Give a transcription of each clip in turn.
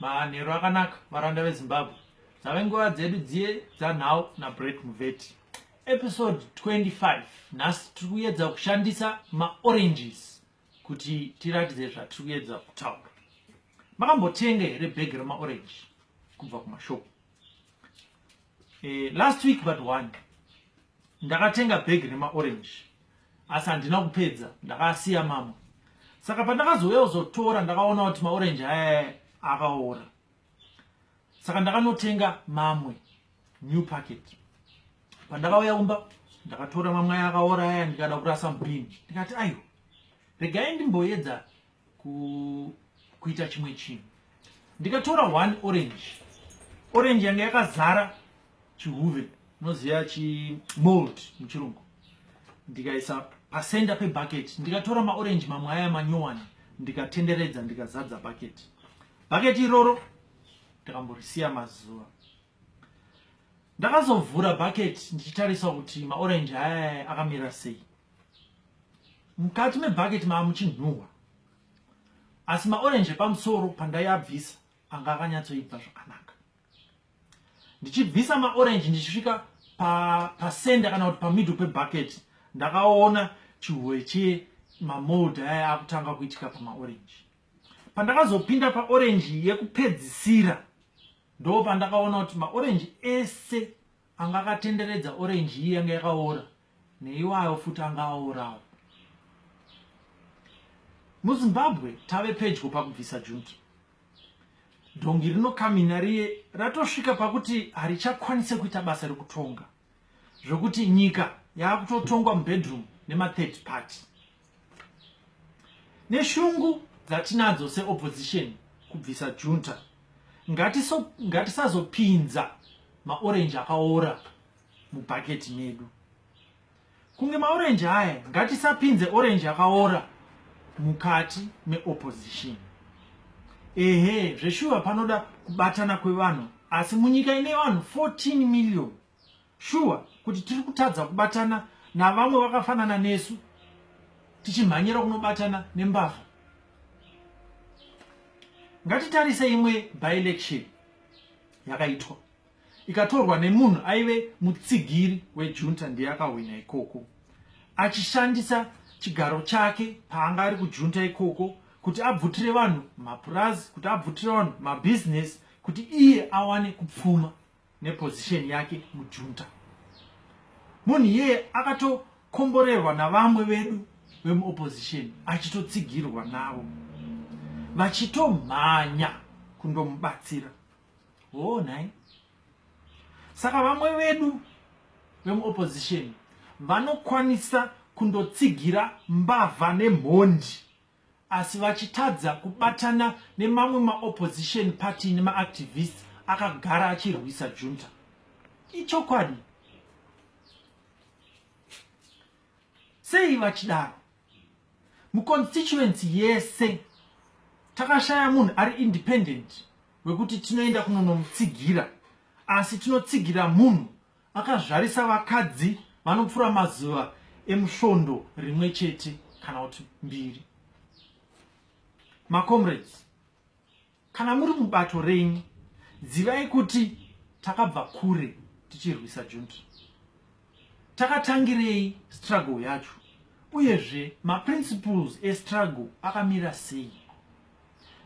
manheru akanaka varanda vezimbabwe dzave nguva dzedu dziye dzanhau nabret muveti episode 25 nhasi tiri kuyedza kushandisa maoranges kuti tiratidze zvatiri kuyedza kutaura makambotenga here bhegi remaorange kubva kumashopu eh, last week but one ndakatenga bhegi remaorange asi handina kupedza ndakasiya mama saka pandakazouya kuzotora ndakaona kuti maorange aya akaora saka ndakanotenga mamwe new packet pandakauya kumba ndakatora mamwe aya akaora aya ndikada kurasa mubini ndikati aiwa regai ndimboedza kuita chimwe chinhu ndikatora one orange orange yange yakazara chihuve unoziva chimold muchirungu ndikaisa pasenda pebucket ndikatora maorange mamwe aya manyowani ndikatenderedza ndikazadza bucket bucket iroro ndakamborisiya mazuva ndakazovhura bucket ndichitarisa kuti maorange aya akamira sei mukati mebhaketi maamuchinhuhwa asi maorenji epamusoro pandaiabvisa anga akanyatsoibva zvakanaka ndichibvisa maorenji ndichisvika pasenda pa kana kuti pamiddle pebhaketi ndakaona chihoe chemamold aya akutanga kuitika pamaorenji pandakazopinda paorenji yekupedzisira ndo pandakaona kuti maorenji ese anga akatenderedza orenji iyi yanga yakaora neiwayo futi anga aorawo muzimbabwe tave pedyo pakubvisa junki dhongi rinokamina riye ratosvika pakuti harichakwanise kuita basa rekutonga zvokuti nyika yaakutotongwa mubedroom nemathird party neshungu dzatinadzo seopposition kubvisa junta ngatisazopinza maorenji akaora mubhaketi medu kunge maorenji aya ngatisapinze orenji yakaora mukati meopposition ehe zveshuva panoda kubatana kwevanhu asi munyika ine vanhu 14 million shuwa kuti tiri kutadza kubatana navamwe vakafanana nesu tichimhanyira kunobatana nembavha ngatitarise imwe byelection yakaitwa ikatorwa nemunhu aive mutsigiri wejunta ndiye akahwina ikoko achishandisa chigaro chake paanga ari kujunta ikoko kuti abvutire vanhu mapurazi kuti abvutire vanhu mabhizinesi kuti iye awane kupfuma nepozisheni yake mujunta munhu iyeye akatokomborerwa navamwe vedu vemuopozisheni achitotsigirwa navo vachitomhanya kundomubatsira hoo nhai saka vamwe vedu vemuopposition vanokwanisa kundotsigira mbavha nemhondi asi vachitadza kubatana nemamwe maopposition party nemaactivist akagara achirwisa junta ichokwadi sei vachidaro muconstituency yese takashaya munhu ari independent wekuti tinoenda kunonomutsigira asi tinotsigira munhu akazvarisa vakadzi vanopfura mazuva emusvondo rimwe chete kana kuti mbiri macomrades kana muri mubato renyu zivai kuti takabva kure tichirwisa junta Takatangirei struggle yacho uyezve maprinciples estruggle akamira sei?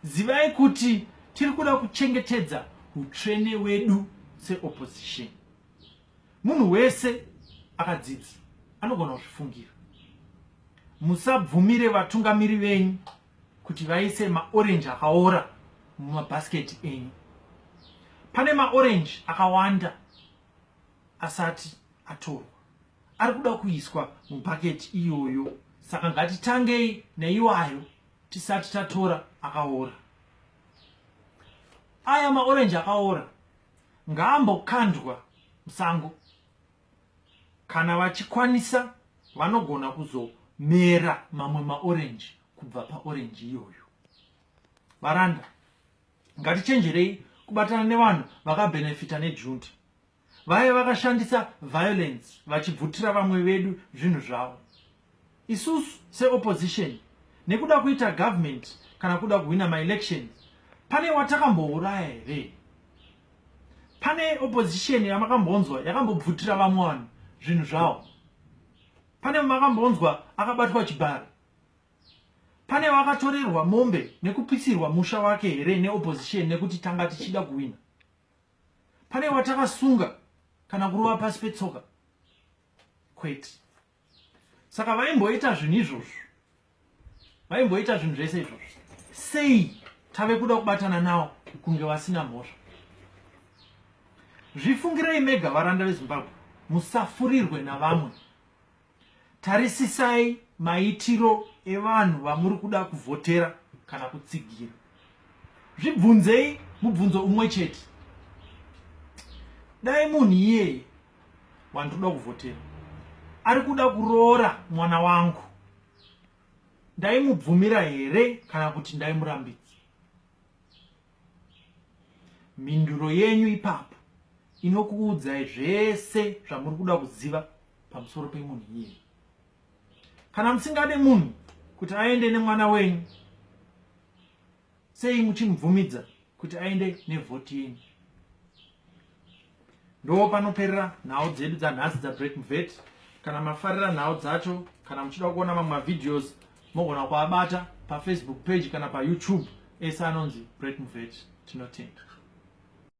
Zivai kuti tiri kuda kuchengetedza utsvene wedu seopposition. Munhu wese akadzidza anogona kuzvifungira. Musabvumire vatungamiri venyu kuti vaise maorenji akaora mumabhasiketi enyu. Pane maorenji akawanda asati atorwa ari kuda kuiswa mubhaketi iyoyo saka ngatitangei neiwayo tisati tatora akaora aya maorenji akaora ngaambokandwa musango kana vachikwanisa vanogona kuzomera mamwe maorenji kubva paorenji iyoyo varanda Ngatichenjerei kubatana nevanhu vakabenefita nejunta vaive vakashandisa violence vachibvutira vamwe vedu zvinhu zvavo isusu seopposition nekuda kuita government kana kuda kuhwina maelections pane watakambouraya here pane opposition yamakambonzwa yakambobvutira vamwe vanhu zvinhu zvavo pane makambonzwa akabatwa chibharo Pane wakatorerwa mombe nekupisirwa musha wake here neopposition nekuti tanga tichida kuwina? Pane watakasunga kana kurova pasi petsoka? Kwete. Saka vaimboita zvinhu izvozvo, vaimboita zvinhu zvese izvozvo, sei tave kuda kubatana nawo kunge vasina mhosva? Zvifungirei mega varanda veZimbabwe, musafurirwe navamwe. Tarisisai maitiro evanhu vamuri kuda kuvhotera kana kutsigira. Zvibvunzei mubvunzo umwe chete. Dai munhu iyeye wandiri kuda kuvhotera ari kuda kuroora mwana wangu, ndaimubvumira here kana kuti ndaimurambidza? mhinduro yenyu ipapo inokuudzai zvese zvamuri kuda kuziva pamusoro pemunhu iyeye kana musingade munhu kuti aende nemwana wenyu sei muchimubvumidza kuti aende nevhoti yenyu ndo panoperera nhau dzedu dzanhasi dzabreak mvet kana mafarira nhau dzacho kana muchida kuona mamwe mavideos mogona kuabata pafacebook page kana payoutube ese anonzi break mvet tinotenda